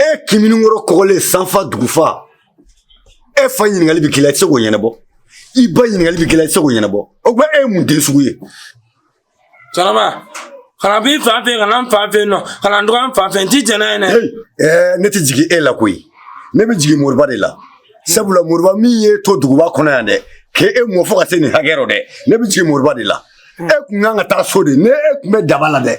e kiminikɔrɔ kɔgɔlen sanfa dugufa e fa ɲininkali bɛ k'i la i tɛ se k'o ɲɛnabɔ i ba ɲininkali bɛ k'i la i tɛ se k'o ɲɛnabɔ o tuma e ye mun den sugu ye. cɛkɔrɔba kana b'i fa fɛ kana n fa fɛ nɔ kana n dɔgɔ n fa fɛ n ti jɛn n'a ye dɛ. ɛɛ ne tɛ jigin e la koyi ne bɛ jigin moriba de la sabula moriba min y'e to duguba kɔnɔ yan dɛ k'e mɔ fo ka se nin hakɛ rɔ dɛ ne bɛ jigin moriba de la e tun kan ka taa so de ne e tun bɛ daba la dɛ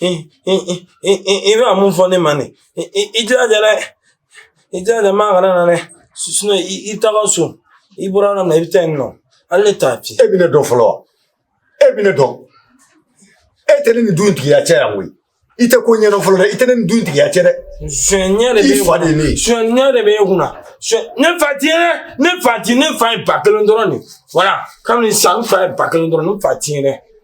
i bɛ mun fɔ ne ma ne i jilaja dɛ i jilaja maa kana na dɛ sinɔn i taga so i bɔra yɔrɔ min na i bɛ taa yen nɔ hali ne t'a fiyɛ. e bɛ ne dɔn fɔlɔ wa e bɛ ne dɔn e tɛ ne nin du in tigiya cɛ yan koyi i tɛ ko ɲɛdɔn fɔlɔ dɛ i tɛ ne nin du in tigiya cɛ dɛ. sonyɛ de bɛ e kunna sonyɛ de bɛ e kunna ne fa t'i ye dɛ ne fa ti ne fa ye ba kelen dɔrɔn de wala kabini san n fa ye ba kelen dɔrɔn ne fa t'i ye dɛ.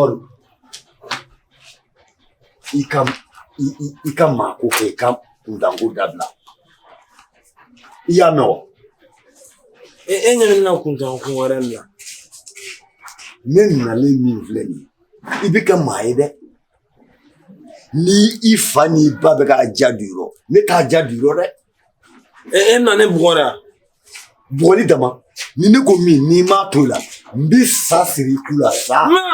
Ɔn i ka i ka maa ko kɛ i ka kuntanko dabila i y'a mɛn wa e e ɲɛ bɛ na kuntanko wɛrɛ min na ne nalen min filɛ nin ye i bɛ kɛ maa ye dɛ ni i fa n'i ba bɛ k'a ja du yɔrɔ ne t'a ja du yɔrɔ dɛ e nana ne bugɔra bugɔli dama ni ne ko min n'i m'a to la n bɛ sa siri i ku la sa. ma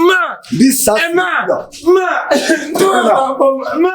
ma n bɛ sa siri i ku la. ma ma ma.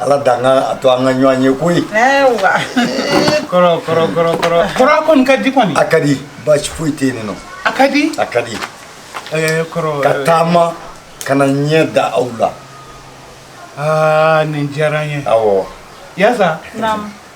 ala dan ka a to an ka ɲɔgɔn ye koyi kɔrɔ kɔrɔ kɔrɔ kɔrɔ kɔrɔ kɔni ka di kɔni a ka di baasi foyi tɛ yen nɔ a ka di a ka di kɔrɔ ka taama ka na ɲɛ da aw la aa nin diyara n ye awɔ yasa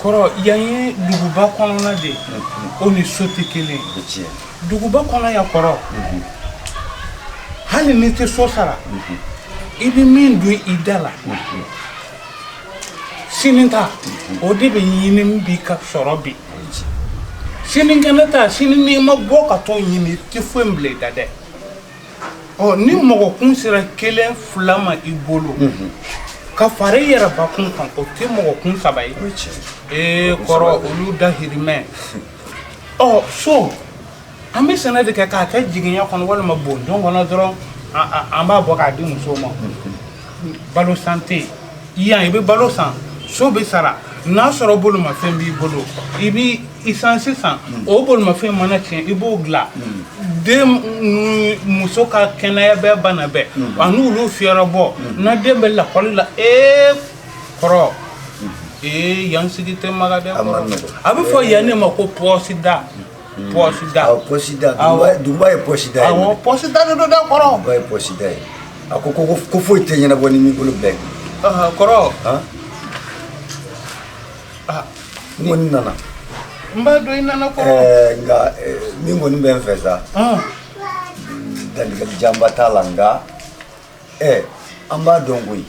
kɔrɔ yan ye duguba kɔnɔna de ye o ni so tɛ kelen ye duguba kɔnɔ yan kɔrɔ hali n'i tɛ so sara i bɛ min don i da la sini ta o de bɛ ɲini bi k'a sɔrɔ bi sinikɛnɛ ta sini n'i ma bɔ ka t'o ɲini i tɛ foyi bila i da dɛ ɔ ni mɔgɔkun sera kelen fila ma i bolo ka fara i yɛrɛ bakun kan o tɛ mɔgɔkun saba ye ee kɔrɔ olu dahirimɛ ɔ so an bɛ sɛnɛ de kɛ k'a kɛ jiginya kɔnɔ walima bondon kɔnɔ dɔrɔn an b'a bɔ k'a di musow ma balo san tɛ yan i bɛ balo san so bɛ sara n'a sɔrɔ bolimafɛn b'i bolo i bɛ isansi san o bolimafɛn mana tiɲɛ i b'o dilan den muso ka kɛnɛya bɛɛ bana bɛɛ an'olu fɛɛrɛbɔ n'a den bɛ lakɔli la e kɔrɔ ee yan sigi tɛ makan a bɛ fɔ yan ne ma ko pɔsida pɔsida pɔsida duguba ye pɔsida ye pɔsida de don dɛ kɔrɔ duguba ye pɔsida ye a ko ko foyi tɛ ɲɛnabɔ n'i m'i bolo bila kɔrɔ n kɔni nana n b'a dɔn i nana kɔrɔ nka min kɔni bɛ n fɛ sa dantigɛli janba t'a la nka ɛ an b'a dɔn koyi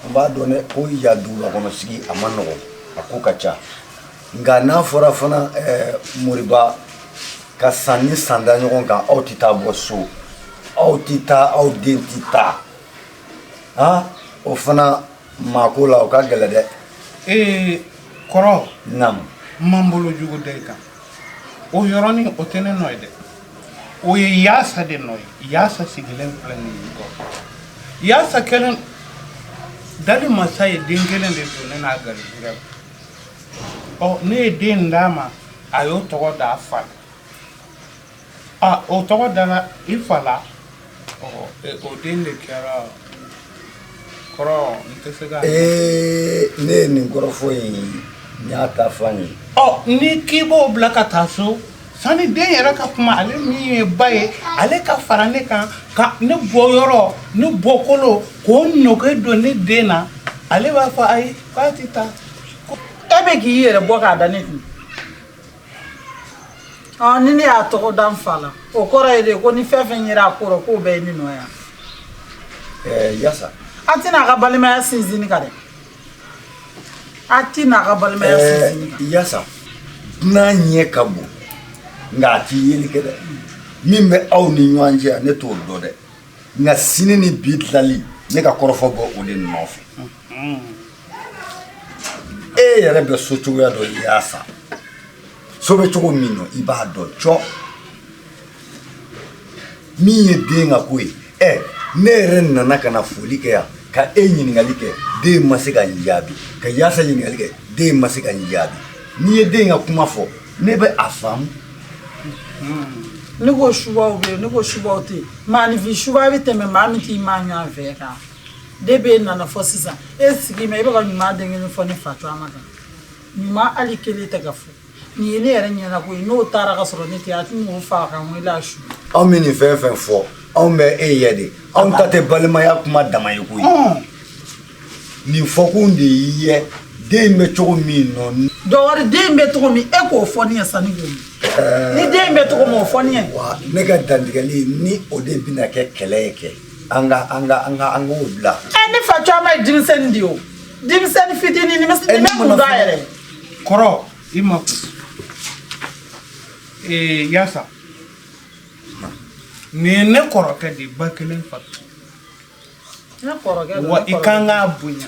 an b'a dɔn dɛ ko yan duguba kɔnɔ sigi a ma nɔgɔn a ko ka ca Nka n'a fɔra fana moriba ka san ni san da ɲɔgɔn kan aw tɛ taa bɔ so aw tɛ taa aw den tɛ taa aa o fana maa ko la o ka gɛlɛ dɛ ee kɔrɔ n ma n bolo jugu da i kan o yɔrɔnin o tɛ ne nɔ ye dɛ o ye yaasa de nɔ ye yaasa sigilen filɛ nin ye kɔ yaasa kelen dali masa ye den kelen de don ne n'a garijɛgɛ Ne ye den d'a ma a y'o tɔgɔ da a fa la o tɔgɔ dala i fa la o den de kɛra kɔrɔ tɛ se ne ye nin kɔrɔfɔ in n y'a ta f'a ye n'i k'i b'o bila ka taa so sani den yɛrɛ ka kuma ale min ye ba ye ale ka fara ne kan ka ne bɔyɔrɔ ne bɔkolo k'o nɛgɛ don ne den na ale b'a fɔ ayi k'a tɛ taa e bɛ k'i yɛrɛ bɔ k'a da ne kun ɔ ni ne y'a tɔgɔ da n fa la o kɔrɔ ye de ko ni fɛn fɛn yera a kɔrɔ k'o bɛɛ ye ne nɔ yan ɛɛ yasa a tɛna a ka balimaya sinsinni kan dɛ a tɛna a ka balimaya sinsinni kan ɛɛ yasa dunan ɲɛ ka bon nka a tɛ yeli kɛ dɛ min bɛ aw ni ɲɔgɔn cɛ yan ne t'o dɔn dɛ nka sini ni bi tilali ne ka kɔrɔfɔ b'o de nɔfɛ e yɛrɛ bɛ so cogoya dɔn yaasa so bɛ cogo min na i b'a dɔn cɔ min ye den ka ko ye ɛ ne yɛrɛ nana ka na foli kɛ yan ka e ɲininkali kɛ den ma se ka n jaabi ka yaasa ɲininkali kɛ den ma se ka n jaabi n'i ye den ka kuma fɔ ne bɛ a faamu ne ko subaw bɛ yen ne ko subaw tɛ yen maanifin suba bɛ tɛmɛ maa min t'i maa ɲɔgɔn fɛ kan de bɛ e nana fɔ sisan e sigi ma e bɛ ɲuman den kelen fɔ ne facɔma kan ɲuman hali kelen tɛ ka fɔ nin ye ne yɛrɛ ɲɛna koyi n'o taara ka sɔrɔ ne tɛ a tun faa kan e la su anw bɛ nin fɛn fɛn fɔ anw bɛ e ye de anw ta tɛ balimaya kuma dama ye koyi nin fɔkun de y'i ye den bɛ cogo min nɔ dɔwɛrɛ den bɛ cogo min e k'o fɔ ne sanni ko ni den bɛ cogo min o fɔ ne ne ka dantigɛli ni o de bɛna kɛ kɛlɛ ye kɛ an ka an ka an ka an k'o bila. ɛ ne facɔma ye denmisɛnnin de ye o denmisɛnnin fitinin ni bɛ ni bɛ kun dɔn yɛrɛ. kɔrɔ i makun ee yaasa nin ye ne kɔrɔkɛ de ye ba kelen fa kelen. ne kɔrɔkɛ don wa i kan k'a bonya.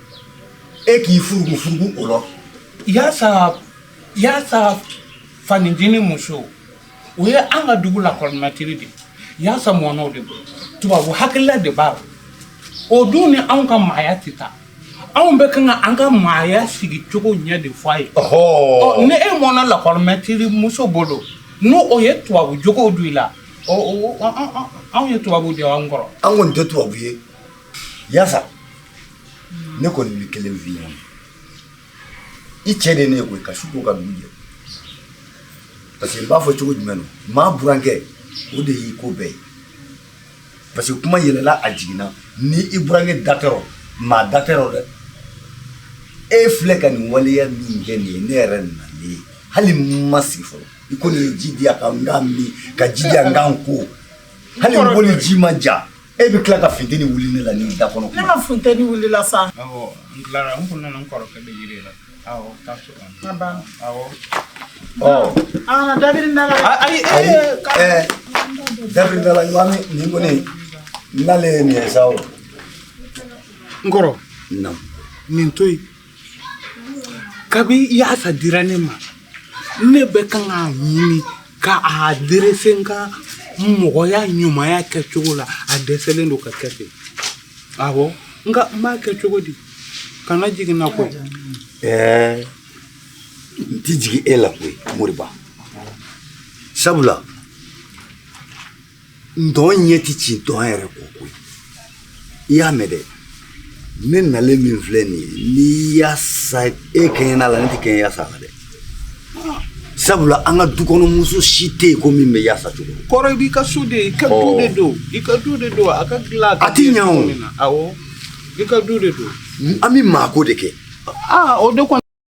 e k'i furuku furuku o la yaasa yaasa fanintini muso o ye an ka dugu lakɔlimɛtiri de yaasa mɔna o de bolo tubabu hakilila de b'a la o dun ni anw ka maaya tɛ taa anw bɛ kan ka an ka maaya sigi cogo ɲɛ de fɔ a ye ɔ ni e mɔna lakɔlimɛtiri muso bolo n'o o ye tubabu jogow don i la anw ye tubabu de y'an kɔrɔ an kɔni tɛ tubabu ye yaasa ne kɔni bɛ kelen f'i ɲɛna i cɛ de ne koyi ka su ko ka dugu jɛ parce que n b'a fɔ cogo jumɛn don maa burankɛ o de y'i ko bɛɛ ye parce que kuma yɛlɛla a jiginna ni i burankɛ da t'a rɔ maa da t'a rɔ dɛ e filɛ ka nin waleya min kɛ nin ye ne yɛrɛ nalen ye hali n ma sigi fɔlɔ i ko nin ye ji di yan ka n k'a min ka ji di yan n ka n ko hali n boli ji ma ja E bɛ tila ka funteni wuli ne la ni da kɔnɔ ne ma funteni wili la sa n da da sa n kɔrɔ nin to kabi yaasa dira ne ma ne bɛ kan k'a ɲini ka a derese nka mɔgɔya ɲumanya kɛcogo la a dɛsɛlen don ka kɛ ten awɔ nka n b'a kɛ cogo di kana jigin n na koyi n tɛ jigin e la koyi moriba sabula ntɔn ɲɛ tɛ ci ntɔn yɛrɛ kɔ koyi i y'a mɛn dɛ ne nalen min filɛ nin ye ni yasa e kɛɲɛna la ne tɛ kɛɲɛ yasa la dɛ sabula an ka dukɔnɔmuso si tɛ yen ko min bɛ yasa cogo kɔrɔ i b'i ka so de i ka du de don i ka du de don a ka dilan a tɛ ɲɛ o awɔ i ka du de don an bɛ maako de kɛ aa o de kɔni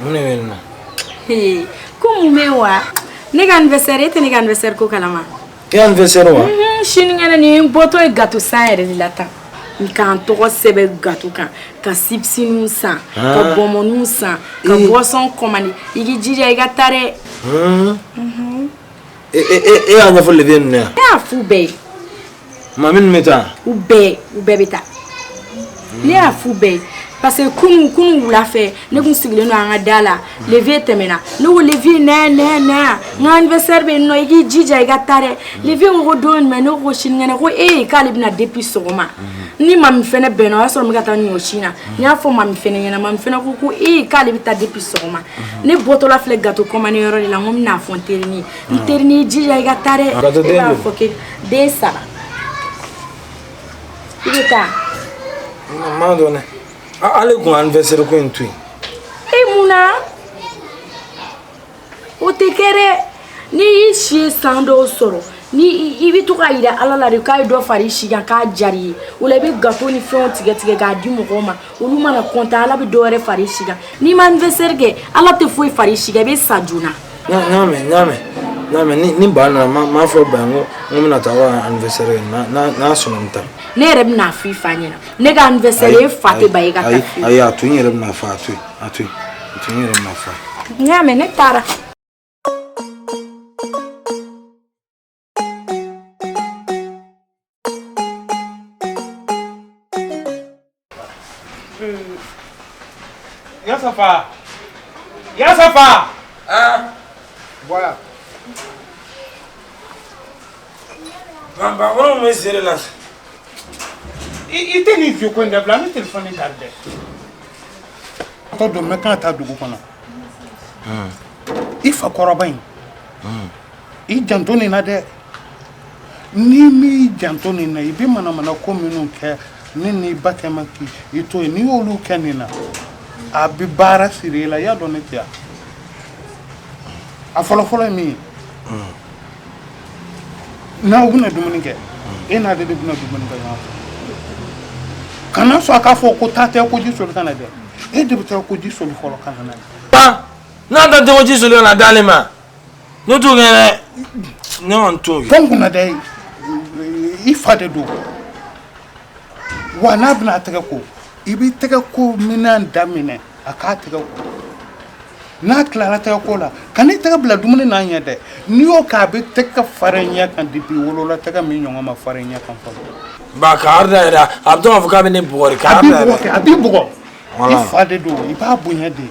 Mun bɛ na ko mun bɛ wa ne ka anniversaire e tɛ ne ka anniversaire ko kalama e anniversaire wa sinikɛnɛ ne bɔtɔ ye gato san yɛrɛ de la tan n ka n tɔgɔ sɛbɛn gato kan ka sibisininw san ka bɔnbɔninw san ka boisson kɔmandi i k'i jija i ka taa dɛ e y'a ɲɛfɔ leve ninnu ye wa ne y'a f'u bɛɛ ye Mami ninnu bɛ taa u bɛɛ u bɛɛ bɛ taa ne y'a f'u bɛɛ ye parce que kunun kunun wula fɛ ne tun sigilen don an ka da la leve tɛmɛna ne ko leve nɛ nɛ nɛ n ka anniversaire bɛ yen nɔ i k'i jija i ka taa dɛ leve ko ko don jumɛn ne ko ko sinikɛnɛ ko ee k'ale bɛ na depuis sɔgɔma ni mami fɛnɛ bɛnna o y'a sɔrɔ n bɛ ka taa ɲɔsin na n y'a fɔ mami fɛnɛ ɲɛna mami fɛnɛ ko ko ee k'ale bɛ taa depuis sɔgɔma ne bɔtɔla filɛ gato kɔmandi yɔrɔ de la n ko n bɛna a fɔ n terinin ye n terinin i jija i ka taa dɛ e b'a fɔ ke den saba i bɛ taa. n m'a dɔn dɛ ale kun anniversaire ko in to yen. e mun na o tɛ kɛ dɛ n'i y'i si ye san dɔw sɔrɔ ni i bɛ to k'a jira ala la de k'a ye dɔ fara i si kan k'a diyara i ye o la i bɛ gato ni fɛnw tigɛ tigɛ k'a di mɔgɔw ma olu mana kɔntan ala bɛ dɔ wɛrɛ fara i si kan n'i ma anniversaire kɛ ala tɛ foyi fara i si kan i bɛ sa joona. n y'a mɛn n y'a mɛn n y'a mɛn ni ba nana n b'a fɔ ba ye n ko n ko n bɛna taa aw anniversaire kɛ n'a sɔnna n bɛ taa. ne yɛrɛ bɛna a f'i fa ɲɛna ne ka anniversaire e fa tɛ ba ye ka taa f'i. ayi a to n yɛrɛ bɛna fa a to yen a to yen a to n yɛrɛ bɛna fa. n y'a mɛn ne taara. Ya safa ya safa bɔra banbakɔrɔ bɛ sere la i tɛ nin fi ko in dabila an bɛ telefɔni ta dɛ tɔ don n bɛ ka taa dugu kɔnɔ i fa kɔrɔba in i janto nin na dɛ n'i m'i janto nin na i bɛ mana mana ko minnu kɛ ne ni ba cɛma i to yen n'i y'olu kɛ nin na a bɛ baara siri i la i y'a dɔn ne tɛ a fɔlɔfɔlɔ ye min ye n'aw bɛna dumuni kɛ e n'a de de bɛna dumuni kɛ ɲɔgɔn fɛ kana sɔn a k'a fɔ ko taa tɛgɛ ko ji soli ka na dɛ e de bɛ tɛgɛ ko ji soli fɔlɔ ka na na n'a tɛ tɛgɛ ko ji soli ka n'a d'ale ma Ne t'o kɛ dɛ, ne kɔni t'o kɛ, Tange kunna dɛ, i fa de don wa n'a bɛna a tɛgɛ ko i bɛ tɛgɛko minɛn da minɛ a k'a tɛgɛ ko n'a tilara tɛgɛ ko la kan'i tɛgɛ bila dumuni n'a ɲɛ dɛ n'i y'o kɛ a bɛ tɛgɛ fara i ɲɛ kan depuis i wolola tɛgɛ min ɲɔgɔn ma fara i ɲɛ kan fɔlɔ. Ba ka arda yɛrɛ a bɛ to k'a fɔ k'a bɛ ne bugɔ de. A b'i bugɔ kɛ a b'i bugɔ. I fa de don i b'a bonya de.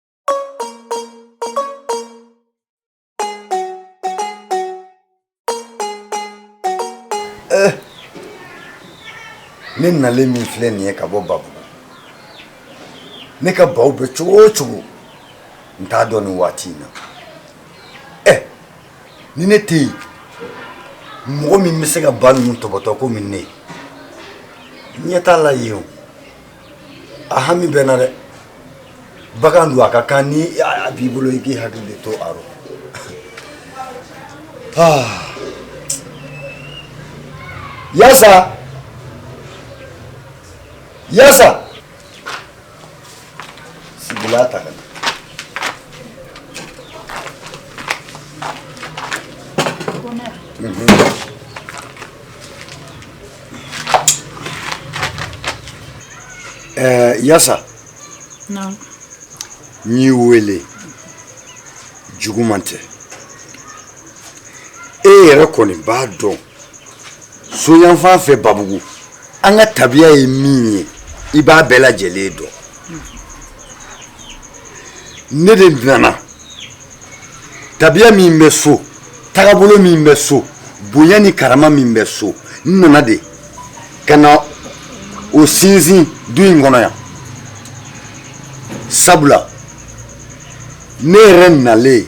Eh. ne nalen min filɛ nin ye ka bɔ babugu ne ka baw bɛ cogo o cogo n t'a dɔn nin waati in na ɛ eh. ni ne tɛ yen mɔgɔ min bɛ se ka ba ninnu tɔbɔtɔ komi ne n ɲɛ t'a la yen o A hami bɛ n na dɛ bagan don a ka kan ni a b'i bolo i k'i hakili de to a rɔ yasa yasa sigilan ta Yasa n'i weele juguman tɛ e yɛrɛ kɔni b'a dɔn so yanfan fɛ babugu an ka tabiya ye min ye i b'a bɛɛ lajɛlen dɔn ne de nana tabiya min bɛ so tagabolo min bɛ so bonya ni karama min bɛ so n nana de ka na o sinsin du in kɔnɔ yan sabula ne yɛrɛ nalen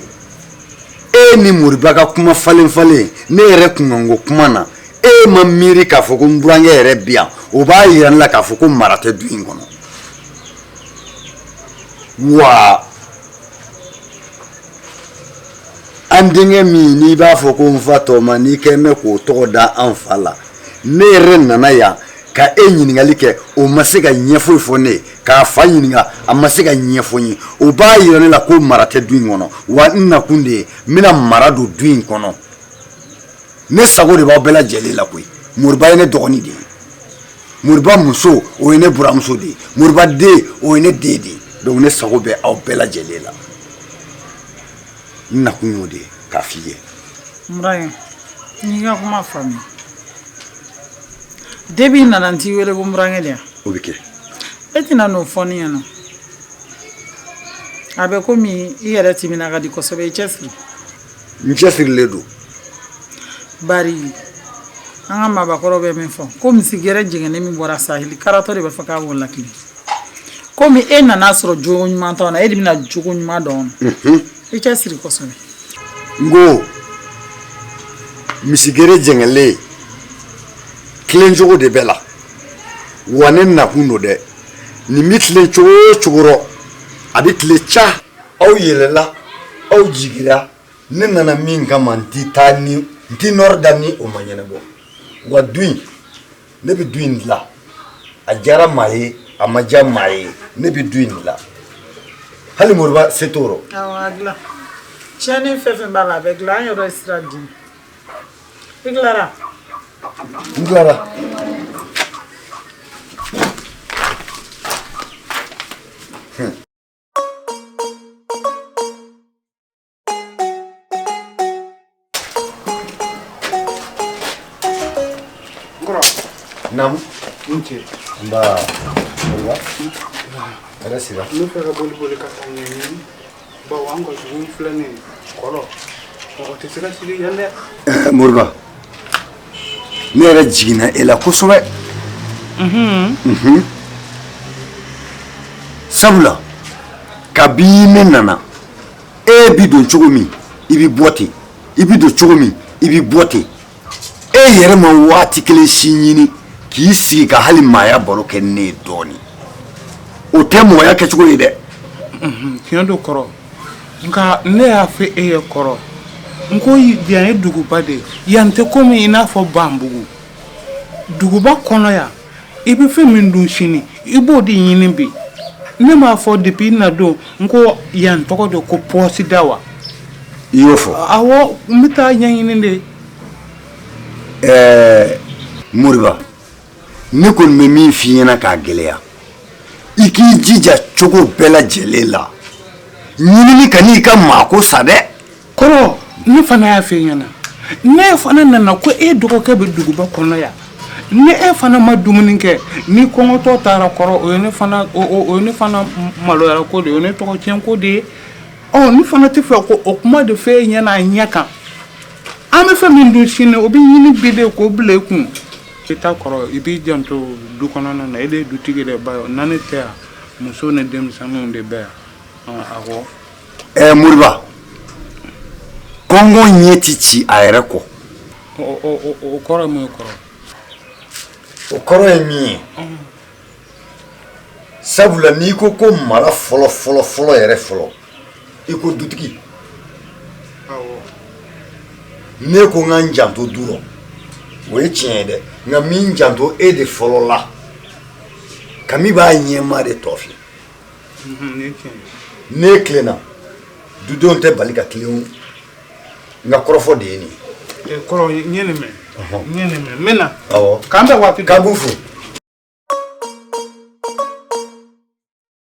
e ni moriba ka kuma falen falen ne yɛrɛ kunkanko kuma na e ma miiri k'a fɔ ko n burankɛ yɛrɛ bi yan o b'a yira ne la k'a fɔ ko mara tɛ du in kɔnɔ wa an denkɛ min n'i b'a fɔ ko n fa tɔma n'i k'a mɛn k'o tɔgɔ da an fa la ne yɛrɛ nana yan ka e ɲininkali kɛ o ma se ka ɲɛ foyi fɔ ne k'a fa ɲininka a ma se k'a ɲɛfɔ n ye o b'a yira ne la ko mara tɛ du in kɔnɔ wa n nakun de ye n bɛna mara don du in kɔnɔ ne sago de b'aw bɛɛ lajɛlen la koyi moriba ye ne dɔgɔnin de ye moriba muso o ye ne buranmuso de ye moriba den o ye ne den de ye donc ne sago bɛ aw bɛɛ lajɛlen la nakun y'o de ye k'a f'i ye burankɛ n y'i ka kuma faamu depuis n nana n t'i wele ko burankɛ de yan o bɛ kɛ e tɛna n'o fɔ ne ɲɛna a bɛ komi i yɛrɛ timina ka di kosɛbɛ i cɛ siri n cɛ sirilen don bari an ka maabakɔrɔ bɛ min fɔ ko misi gere jɛngɛnnen min bɔra sahili karatɔ de b'a fɔ k'a b'o latilen komi e nana sɔrɔ jogo ɲuman t'anw na e de bɛna jogo ɲuman dɔn i cɛ siri kosɛbɛ n ko misi gere jɛngɛnnen tilen cogo de bɛ la wa ne nakun don dɛ nin bɛ tilen cogo o cogo rɔ a bɛ tilen sa aw yɛlɛla aw jigira ne nana min kama n tɛ taa n tɛ nɔrɔ da ni o ma ɲɛnabɔ wa du in ne bɛ du in dilan a diyara maa ye a ma diya maa ye ne bɛ du in dilan hali moriba se t'o rɔ. awɔ a dilan tiɲɛni fɛn fɛn b'a la a bɛ dilan an yɛrɛ ye sira di i tilara. n tilara. Naamu. I ni ce. Nba. Nba. Ala sira. Ne fɛ ka boli ka taa ɲɛɲini bawo an ka dugu filɛ nin ye kɔrɔ mɔgɔ tɛ se ka sigi yan dɛ. Moriba. ne yɛrɛ jiginna e la kosɛbɛ sabula kabi ne nana e bɛ don cogo min i bɛ bɔ ten i bɛ don cogo min i bɛ bɔ ten e yɛrɛ ma waati kelen si ɲini k'i sigi ka hali maaya baro kɛ ne ye dɔɔnin o tɛ mɔgɔya kɛcogo ye dɛ tiɲɛ don kɔrɔ nka ne y'a fɔ e ye kɔrɔ n ko yan ye duguba de ye yan tɛ komi i n'a fɔ banbugu duguba kɔnɔ yan i bɛ fɛn min dun sini i b'o de ɲini bi ne m'a fɔ depuis n na don n ko yan tɔgɔ de ko pɔsida wa i y'o fɔ awɔ n bɛ taa ɲɛɲini de ɛɛ moriba ne kɔni bɛ min f'i ɲɛna k'a gɛlɛya i k'i jija cogo bɛɛ lajɛlen la ɲinini kan'i ka maako sa dɛ kɔrɔ ne fana y'a f'e ɲɛna ne fana nana ko e dɔgɔkɛ bɛ duguba kɔnɔ yan ni e fana ma dumuni kɛ n'i kɔngɔtɔ taara kɔrɔ o ye ne fana maloyara ko de o ye ne tɔgɔ tiɲɛ ko de ye ɔ ne fana tɛ fɛ k'o kuma de fɔ e ɲɛna a ɲɛ kan an bɛ fɛn min dun sini o bɛ ɲini bi de k'o bila e kun Kiyita kɔrɔ i b'i janto du kɔnɔna na e de ye dutigi de bawo ni ne tɛ yan muso ni denmisɛnninw de bɛ yan a ko ɛ moriba kɔngɔ ɲɛ tɛ ci a yɛrɛ kɔ o kɔrɔ ye mun ye kɔrɔ o kɔrɔ ye min ye sabula n'i ko ko mara fɔlɔ fɔlɔ fɔlɔ yɛrɛ fɔlɔ i ko dutigi ne ko n ka n janto du rɔ o ye tiɲɛ ye dɛ nka n bɛ n janto e de fɔlɔ la kami b'a ɲɛma de tɔ fɛ ne tilenna dudenw tɛ bali ka tilen n ka kɔrɔfɔ de ye nin ye kɔrɔ n ye nin mɛn n ye nin mɛn n bɛ na k'an bɛn waati k'an b'u fo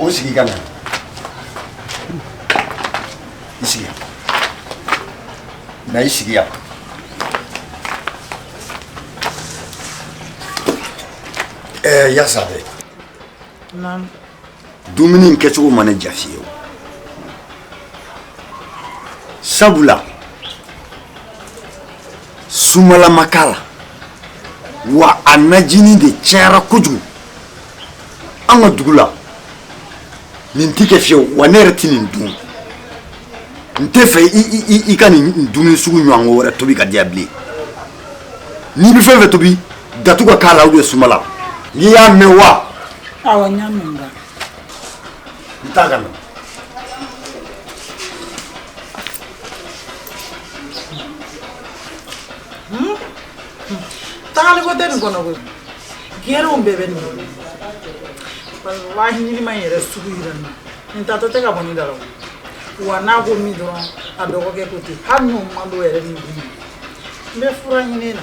o sigi ka na i sigi yan na i sigi yan ɛɛ yasa dɛ dumuni in kɛcogo ma ne diya fiyewu sabula sumala ma k'a la wa a najini de cayara kojugu an ka dugu la nin tɛ kɛ fiyewu wa ne yɛrɛ tɛ nin dun n tɛ fɛ i ka nin dumuni sugu ɲɔgɔn wɛrɛ tobi k'a di yan bilen n'i bɛ fɛn fɛn tobi datu ka k'a la ou bien sumala n ko i y'a mɛn wa. awɔ n y'a mɛn ba. n t'a ka na. tagali ko tɛ nin kɔnɔ koyi gɛrɛw bɛɛ bɛ nin kɔnɔ walahi ɲinima in yɛrɛ sugu yira n na nin tatɔ tɛ ka bɔ nin da la wa n'a ko min dɔrɔn a dɔgɔkɛ ko ten hali n'o man d'o yɛrɛ ni dun n bɛ fura ɲini na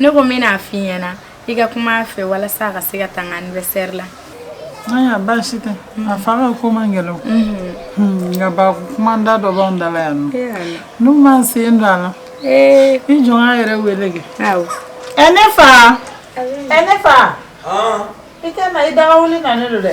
ne ko n bɛ n'a f'i ɲɛna i ka kuma a fɛ walasa a ka se ka taa n ka anniversaire la ayiwa baasi tɛ a fa ka ko man gɛlɛn hmm, nka ba kuma da dɔ b'anw da la yan nɔ n'u m'an sen don a la i jɔn ka yɛrɛ wele kɛ ɛ ne fa ɛ ne fa i tɛna i daga wuli na ne don dɛ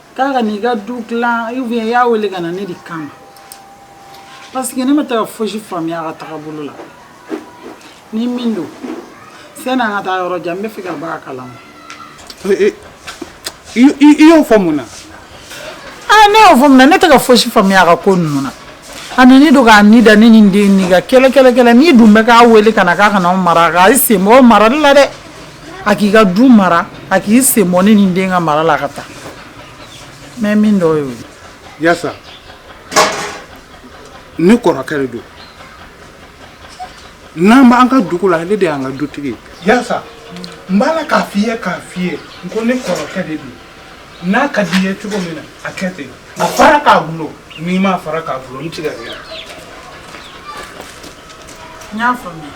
k'a ka n'i ka du dilan ou bien i y'a wele ka na ne de kama parce que ne tɛ ka fosi faamuya a ka tagabolo la ni min don sani an ka taa yɔrɔ jan n bɛ fɛ ka bɔ a kalama i y'o fɔ mun na ah, ne y'o fɔ mun na ne tɛ ka fosi faamuya a ka ko ninnu na a nani don k'a ni da ne ni n den ni ka kɛlɛ kɛlɛ kɛlɛ n'i dun bɛ k'a wele ka na k'a ka n'aw mara k'a sen bɔ marali la dɛ a k'i ka du mara a k'i sen bɔ ne ni n den ka mara la ka taa mɛ min dɔ y'o ye yasa ne kɔrɔkɛ de don n'an b'an ka dugu la ale de y'an ka dutigi yasa n b'a la k'a f'i ye k'a f'i ye n ko ne kɔrɔkɛ de don n'a ka d'i ye cogo min na a kɛ ten a fara k'a bolo n'i m'a fara k'a bolo n tigɛ n y'a faamuya